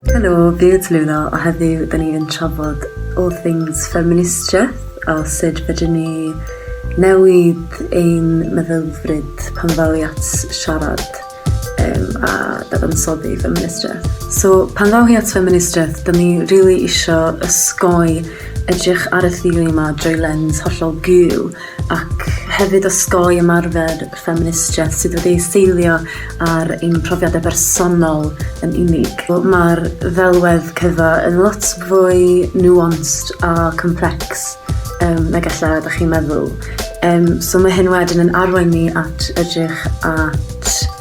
Helo, fi yw Tallulah a heddiw da ni yn trafod all things ffeministiaeth a sut fedrwn ni newid ein meddylfryd pan ddaw i at siarad um, a dadansoddi ffeministiaeth. So, pan ddaw hi at ffeministiaeth, da ni rili really isio ysgoi edrych ar y theori yma drwy lens hollol gul ac hefyd osgoi ymarfer ffeministiaeth sydd wedi ei seilio ar ein profiadau bersonol yn unig. Mae'r ddelwedd cyfa yn lot fwy nuanced a complex um, na gallai ydych chi'n meddwl. Um, so mae hyn wedyn yn arwain ni at edrych at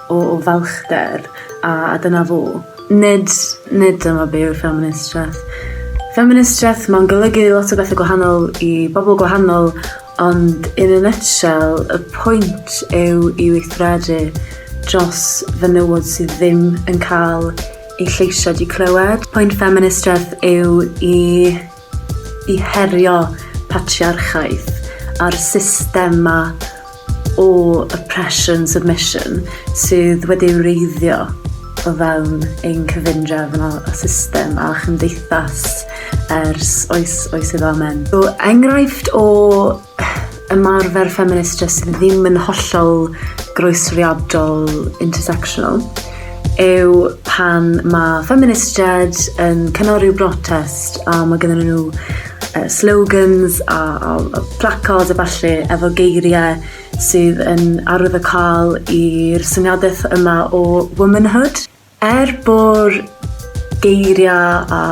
o falchder, a dyna fo. Nid, nid dyma be yw'r ffeministiaeth. Ffeministiaeth, mae'n golygu lot o bethau gwahanol i bobl gwahanol, ond in a nutshell, y pwynt yw i weithredu dros fenywod sydd ddim yn cael eu lleisiau di clywed. Pwynt ffeministiaeth yw i i herio patriarchaeth a'r system 'ma o oppression, submission sydd wedi ei wreiddio o fewn ein cyfundrefn a a system a chymdeithas ers oes oes i'r amen. So enghraifft o ymarfer ffeminist jyst ddim yn hollol groesriadol intersectional yw pan mae ffeministiaid yn cynnal rhyw brotest a mae gyda nhw uh, slogans a, a, a placards a falle efo geiriau sydd yn arwydd y cael i'r syniadaeth yma o womanhood. Er bo'r geiriau a,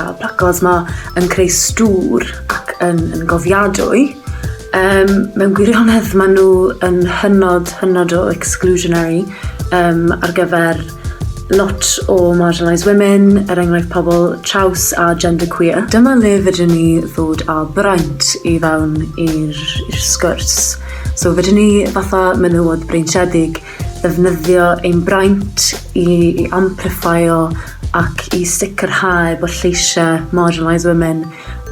a placards ma yn creu stŵr ac yn, yn gofiadwy, um, mewn gwirionedd maen nhw yn hynod, hynod o exclusionary um, ar gyfer lot o marginalised women, er enghraifft pobl traws a genderqueer. Dyma le fydyn ni ddod â braint i fewn i'r sgwrs. So fydyn ni fatha menywod breintiedig ddefnyddio ein braint i i amplifio ac i sicrhau bod lleisiau marginalised women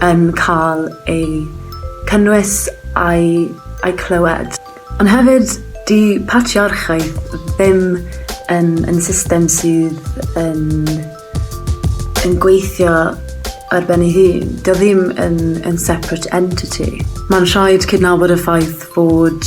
yn cael eu cynnwys a'i a'i clywed. Ond hefyd, 'di patriarchaeth ddim yn yn system sydd yn yn gweithio ar ben ei hun. 'Di o ddim yn yn separate entity. Ma'n rhaid cydnabod y ffaith bod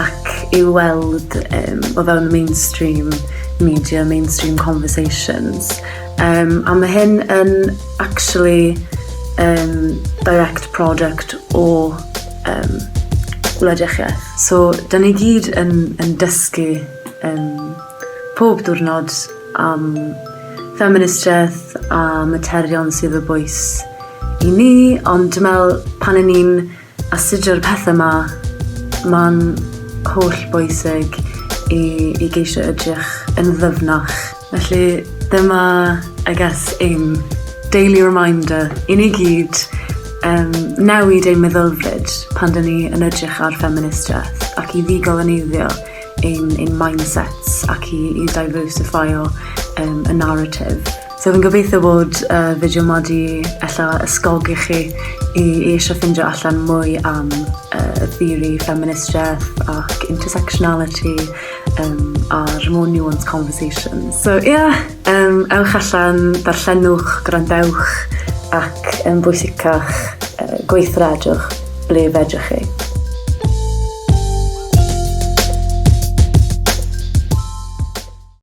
ac i'w weld um, o fewn mainstream media, mainstream conversations. Um, a mae hyn yn actually um, direct product o um, gwlediach ie. So, da ni gyd yn, yn dysgu um, pob diwrnod am ffeministiaeth a materion sydd y bwys i ni, ond dwi'n meddwl pan yn ni'n Astudio'r pethau 'ma, mae'n holl bwysig i i geisio edrych yn ddyfnach. Felly dyma I guess ein daily reminder i ni gyd um, newid ein meddylfryd pan dyn ni yn edrych ar ffeministiaeth ac i ddigoleneiddio ein, ein mindsets ac i, i diversifio um, y narrative. So fi'n gobeithio bod y uh, fideo ma di ella ysgogi chi i, i eisiau ffindio allan mwy am uh, theori ffeministiaeth ac intersectionality um, a'r more nuanced conversation. So ie, yeah, um, ewch allan, darllenwch, gwrandewch ac yn um, bwysicach uh, gweithredwch ble fedrwch chi.